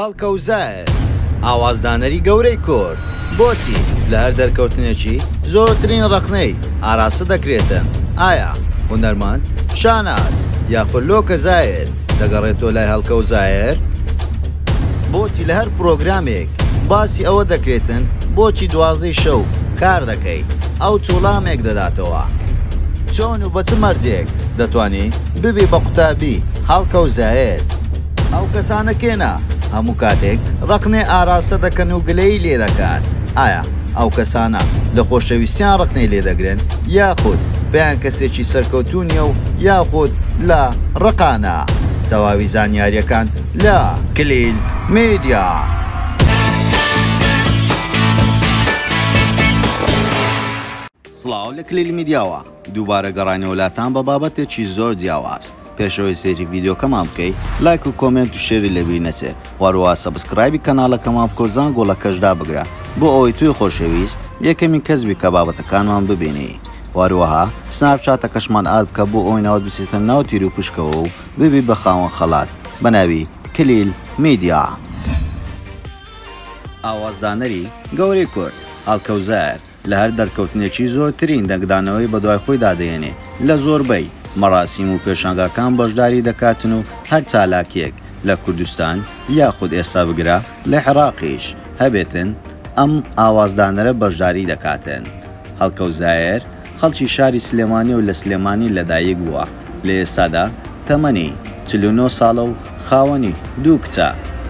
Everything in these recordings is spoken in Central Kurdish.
هەڵکەوزاێ ئاوازدانەری گەورەی کورد بۆچی لە هەر دەرکەوتنێکی زۆرترین ڕەخنەی ئاراستە دەکرێتن؟ ئایا هونەرمەند شاناز یاخود لۆکە زاێر دەگەڕێتۆ لای هەڵکەو زاێر؟ بۆچی لە هەر پرۆگرامێک باسی ئەوە دەکرێتن بۆچی دوازدەی شەو کار دەکەی؟ ئەو چوڵامێک دەداتەوە. چۆن و بە چ مەرجێک دەتوانی ببی بە قوتابی هەڵکەو زاێر؟ ئەو کەسانە کێنە هەموو کاتێک ڕەقنێ ئاراستە دەکەن و گلەیی لێ دەکەن؟ ئایا ئەو کەسانە لە خۆشەویستیان ڕەقنەی لێ دەگرن یاخود پێیان کەسێکی سەرکەوتوو نیە و یاخود لە ڕقانە؟ تەواوی زانیاریەکان لە کلیل میدیا. سڵاو لە کلیل میدیاوە دووبارە گەڕاینەوە لاتان بە بابەتێکی زۆر جیاواز پێش ئەوەی سەیری ڤیدیۆکەمان بکەی لایک و کۆمێنت و شێری لەبیر نەچێ وەروەها سەبسکرایبی کەناڵەکەمان بکەو زانگۆڵەکەش دابگرە بۆ ئەوەی تۆی خۆشەویست یەکەمین کەس بی کە بابەتەکانمان ببینی وەروەها سناپ چاتەکەشمان ئاد بکە بۆ ئەوەی ناوت بچێتە ناو تیروپشکەوە و ببی بە خاوەن خەڵات بە ناوی کلیل میدیا. ئاوازدانەری گەورەی کورد، هەڵکەوزەر. لە هەر دەرکەوتنێکی زۆرترین دەنگدانەوەی بەدوای خۆیدا دەهێنێت، لە زۆربەی مەراسیم و پێشانگاکان بەشداری دەکاتن و هەر چالاکییەک لە کوردستان یاخود ئێستا بگرە لە عێراقیش هەبێتن ئەم ئاوازدانەرە بەشداری دەکاتن. هەڵکەوزاێر خەڵکی شاری سلێمانیە و لە سلێمانی لەدایکبووە. لە ئێستادا تەمەنی چل و نۆ ساڵە و خاوەنی دوو کچە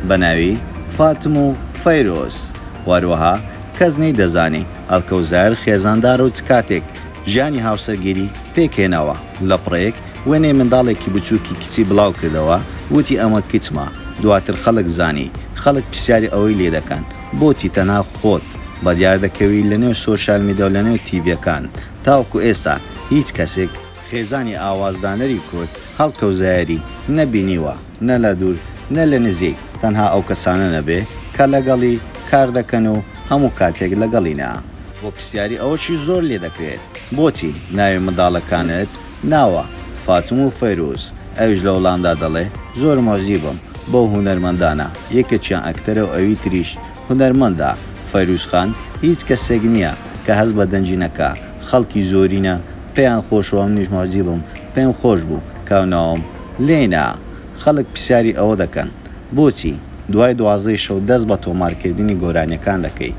بە ناوی فاتم و فەیروز و هەروەها کەس نەیدەزانی ئەلکەوزەر خێزاندارە و چ کاتێک ژیانی هاوسەرگیری پێکهێناوە. لە پڕێک وێنەی منداڵێکی بچووکی کچی بڵاو کردەوە وتی ئەمە کچمە، دواتر خەڵک زانی، خەڵک پرسیاری ئەوەی لێ دەکەن بۆچی تەنها خۆت بەدیار دەکەوی لەنێو سۆشیال میدیا و لەنێو تیڤیەکان تاوەکو ئێستا هیچ کەسێک خێزانی ئاوازدانەری کورد هەڵکەوزایەری نە بینیوە نە لە دوور نە لە نزیک تەنها ئەو کەسانە نەبێ کە لەگەڵی کار دەکەن و هەموو کاتێک لەگەڵینە. وە پرسیاری ئەوەشی زۆر لێ دەکرێت بۆچی ناوی منداڵەکانت ناوە فاتم و فەیروز ئەویش لە وڵامدا دەڵێ زۆر موعجیبم بەو هونەرمەندانە یەکێکیان ئەکتەرە و ئەوی تریش هونەرمەندە فەیروز خان هیچ کەسێک نیە کە هەست بە دەنگی نەکا خەڵکی زۆرینە پێیان خۆشو ئەمنیش مۆجی بووم پێم خۆش بوو کاو ناوم لێی نا خەڵک پرسیاری ئەوە دەکەن بۆچی دوای دوازدەی شەو دەست بە تۆمار کردنی گۆرانیەکان دەکەی؟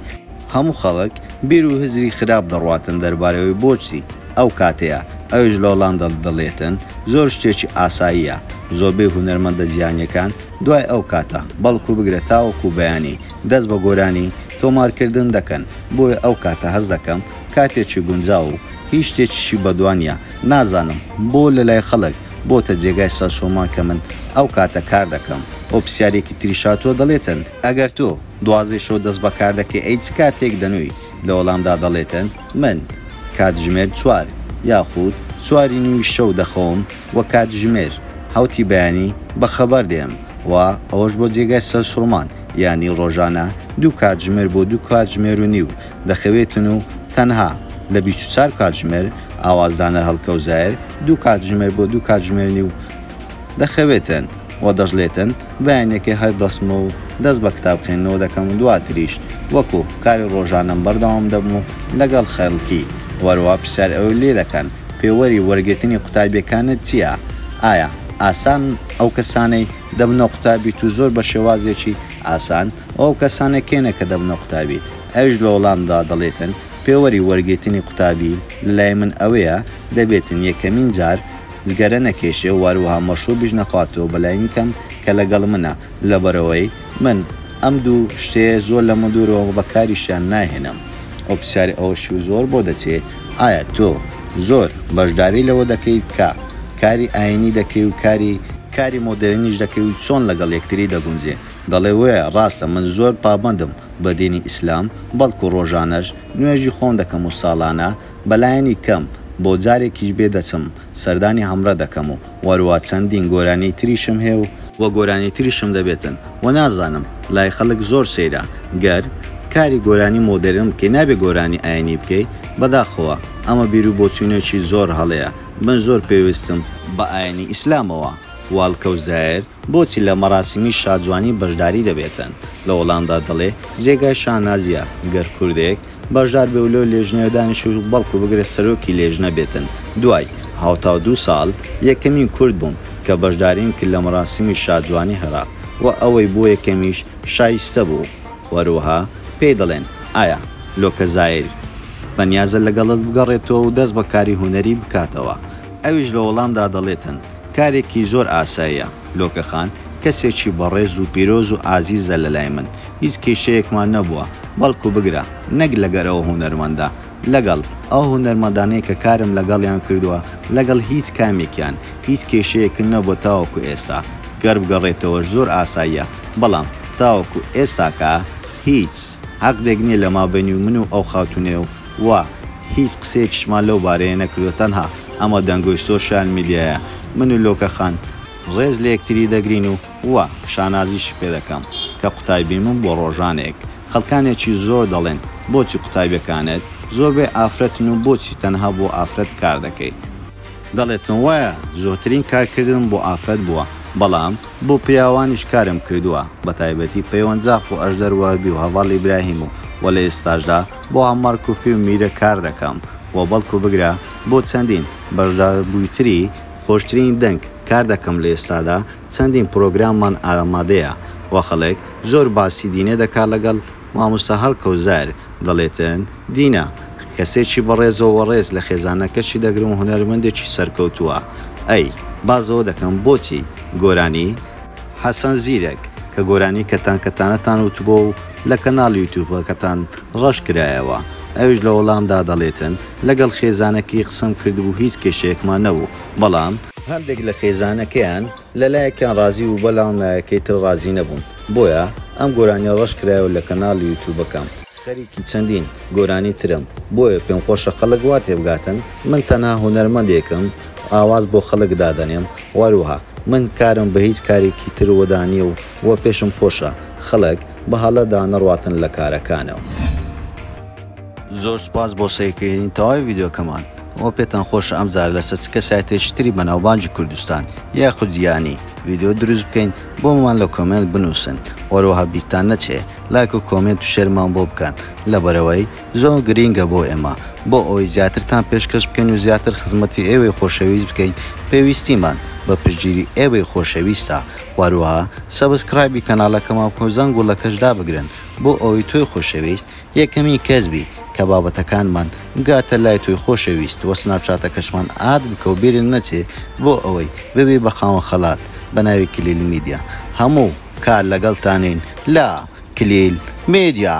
هەموو خەڵک بیر و هزری خراپ دەڕواتن دەربارەی ئەوەی بۆچی ئەو کاتەیە ئەویش لە هۆڵاندە دەڵێتن زۆر شتێکی ئاساییە زۆربەی هونەرمەندە جیهانیەکان دوای ئەو کاتە بەڵکو بگرە تاوەکو بەیانی دەست بە گۆرانی تۆمار کردن دەکەن بۆیە ئەو کاتە هەست دەکەم کاتێکی گونجاو و هیچ شتێکیشی بەدوا نییە. نازانم بۆ لەلای خەڵک بۆتە جێگای سەرسوڕمان کە من ئەو کاتە کار دەکەم؟ بۆ پرسیارێکی تریش هاتووە دەڵێتن، ئەگەر تۆ دوازدەی شەو دەست بە کار دەکەی ئەی چ کاتێک دەنووی؟ لە وەڵامدا دەڵێتن، من کاتژمێر چوار یاخود چواری نیوی شەو دەخەوم و کاتژمێر حەوتی بەیانی بەخەبەر دێم و ئەوەش بۆ جێگای سەرسوڕمان یانی ڕۆژانە دوو کاتژمێر بۆ دوو کاتژمێر و نیو دەخەوێتن و تەنها لە بیست و چار کاتژمێر ئاوازدانەر هەڵکەو زایر دوو کاتژمێر بۆ دوو کاتژمێر نیو دەخەوێتن و دەشڵێتن بەیانیەکەی هەر دەسمەوە و دەست بە کتاب خێنەوە دەکەم و دواتریش وەکو کاری ڕۆژانەم بەردەوام دەبم و لەگەڵ خەلکی وەرەوە پرسیار ئەوەی لێ دەکەن پێوەری وەرگرتنی قوتابیەکانت چیە ئایا ئاسان ئەو کەسانەی دەبنە قوتابیت و زۆر بە شێوازێکی ئاسان و ئەو کەسانە کێنە کە دەبنە قوتابیت؟ ئەویش لە وەڵامدا دەڵێتن، پێوەری وەرگرتنی قوتابی لە لای من ئەوەیە دەبێتن یەکەمین جار جگەرە نەکێشێ و هەروەها مەشروبیش نەخواتەوە بە لای من کەم کە لەگەڵ منە لەبەرئەوەی من ئەم دوو شتەیە زۆر لەمە دوورەوەم و بەکاریشیان ناهێنم و پرسیاری ئەوەشی زۆر بۆ دەچێ ئایا تۆ زۆر بەشداری لەوە دەکەیت کە کاری ئایینی دەکەی و کاری کاری مۆدێرنیش دەکەی و چۆن لەگەڵ یەکتری دەگونجێ؟ دەڵێ وێ ڕاستە من زۆر پابەندم بە دینی ئیسلام بەڵکو ڕۆژانەش نوێژی خۆم دەکەم و ساڵانە بە لایەنی کەم بۆ جارێکیش بێ دەچم سەردانی هەمرە دەکەم و وەروا چەندین گۆرانی تریشم هەیە و گۆرانی تریشم دەبێتن و نازانم لای خەڵک زۆر سەیرە گەر کاری گۆرانی مۆدێرن بکەی نابێ گۆرانی ئاینی بکەی بەداخەوە ئەمە بیرو بۆچونێکی زۆر هەڵەیە من زۆر پێوستم بە ئاینی ئیسلامەوە والکەو زایر بۆچی لە مەراسیمی شاجوانی بەشداری دەبێتن؟ لە وەڵامدا دەڵێ، جێگای شانازییە گەر کوردێک بەشدار بێ و لۆ لێژنەیە دانیشێت و بەڵکو بگرە سەرۆکی لێژنە بێتن، دوای حەوتا و دوو ساڵ یەکەمین کورد بووم کە بەشداریم کرد لە مەراسیمی شاجوانی هەرا و ئەوەی بۆ یەکەمیش شایستە بوو. هەروەها پێی دەڵێن، ئایا لۆ کەزاییر بەنیازە لەگەڵت بگەڕێتەوە و دەست بە کاری هونەری بکاتەوە؟ ئەویش لە وەڵامدا دەڵێتن، کارێکی زۆر ئاساییە لۆکە خان کەسێکی بەڕێز و پیرۆز و ئازیزە لەلای من هیچ کێشەیەکمان نەبووە بەڵکو بگرە نەک لەگەر ئەو هونەرمەندە لەگەڵ ئەو هونەرمەندانەی کە کارم لەگەڵیان کردووە لەگەڵ هیچ کامێکیان هیچ کێشەیەکم نەبووە تاوەکو ئێستا گەر بگەڕێتەوەش زۆر ئاساییە بەڵام تاوەکو ئێستاکە هیچ عەقدێک نیە لەمابەینی من و ئەو خاتونەی و و هیچ قسەیەکیشمان لەو بارەیە نەکردووە تەنها ئەمە دەنگۆی سۆشیال میدیایە من و لۆکە خان ڕێز لە یەکتری دەگرین و و شانازیشی پێ دەکەم کە قوتایبیمم بۆ ڕۆژانێک خەڵکانێکی زۆر دەڵێن بۆچی قوتایبەکانت زۆربەی ئافرەتن و بۆچی تەنها بۆ ئافرەت کار دەکەیت دەڵێتن وایە زۆرترین کارکردنم بۆ ئافرەت بووە بەڵام بۆ پیاوانیش کارم کردووە بەتایبەتی پەیوەند زاخ و ئەژدەر وەهبی و هەڤاڵ ئیبراهیم و و لە ئێستاشدا بۆ هەموار کوفی و میرە کار دەکەم و بەڵکو بگرە بۆ چەندین بەشداربوویتری خۆشترین دەنگ کار دەکەم لە ئێستادا چەندین پرۆگراممان ئامادەیە و خەڵک زۆر باسی دینە دەکات لەگەڵ مامۆستا هەڵکەوزەر دەڵێتن دینە کەسێکی بەڕێزە و وەڕێز لە خێزانەکەشی دەگرم و هونەرمەندێکی سەرکەوتووە ئەی باس لەوە دەکەم بۆچی گۆرانی حەسەن زیرەک، کە گۆرانی کەتان کەتانەتان وتبووە و لە کەناڵ یوتیوبەکەتان ڕەش کرایەوە، ئەویش لە وەڵامدا دەڵێتن، لەگەڵ خێزانەکەی قسەم کردبوو هیچ کێشەیەکمان نەبوو، بەڵام، هەندێک لە خێزانەکەیان لە لایەکیان ڕازی بوو بەڵام لایەکەی تر ڕازی نەبوون، بۆیە ئەم گۆرانیە ڕەش کرایەوە لە کەناڵ یوتیوبەکەم. خەریکی چەندین گۆرانی ترم بۆیە پێم خۆشە خەڵک وا تێبگاتن من تەنها هونەرمەندێکم ئاواز بۆ خەڵک دادەنێم وەروها من کارم بە هیچ کارێکی تر وەدا نیە و وە پێشم خۆشە خەڵک بە هەڵە دا نەڕواتن لە کارەکانم. زۆر سوپاس بۆ سەیرکردنی تەواوی ڤیدیۆکەمان وە پێتان خۆشە ئەم جارە لەسەر چ کەسایەتێکی تری بەناوبانگی کوردستان یاخود جیهانی ڤیدیۆ دروست بکەین بۆمان لە کۆمێنت بنوسن وەروەها بیرتان نەچێ لایک و کۆمێنت و شێرمان بۆ بکەن لەبەرئەوەی زۆر گرینگە بۆ ئێمە بۆ ئەوەی زیاترتان پێشکەش بکەین و زیاتر خزمەتی ئێوەی خۆشەویست بکەین پێویستیمان بە پشتگیری ئێوەی خۆشەویستە وەروەها سەبسکرایبی کەنالەکەمان بکەن و زەنگ گوڵەکەش دابگرن بۆ ئەوەی تۆی خۆشەویست یەکەمین کەس بی کە بابەتەکانمان بگاتە لای تۆی خۆشەویست وە سناپچاتەکەشمان ئاد بکە و بیرت نەچێ بۆ ئەوەی ببی بە خاوەن خەڵات بەناوی کلیل میدیا هەموو کار لەگەڵتانین لە، کلیل میدیا.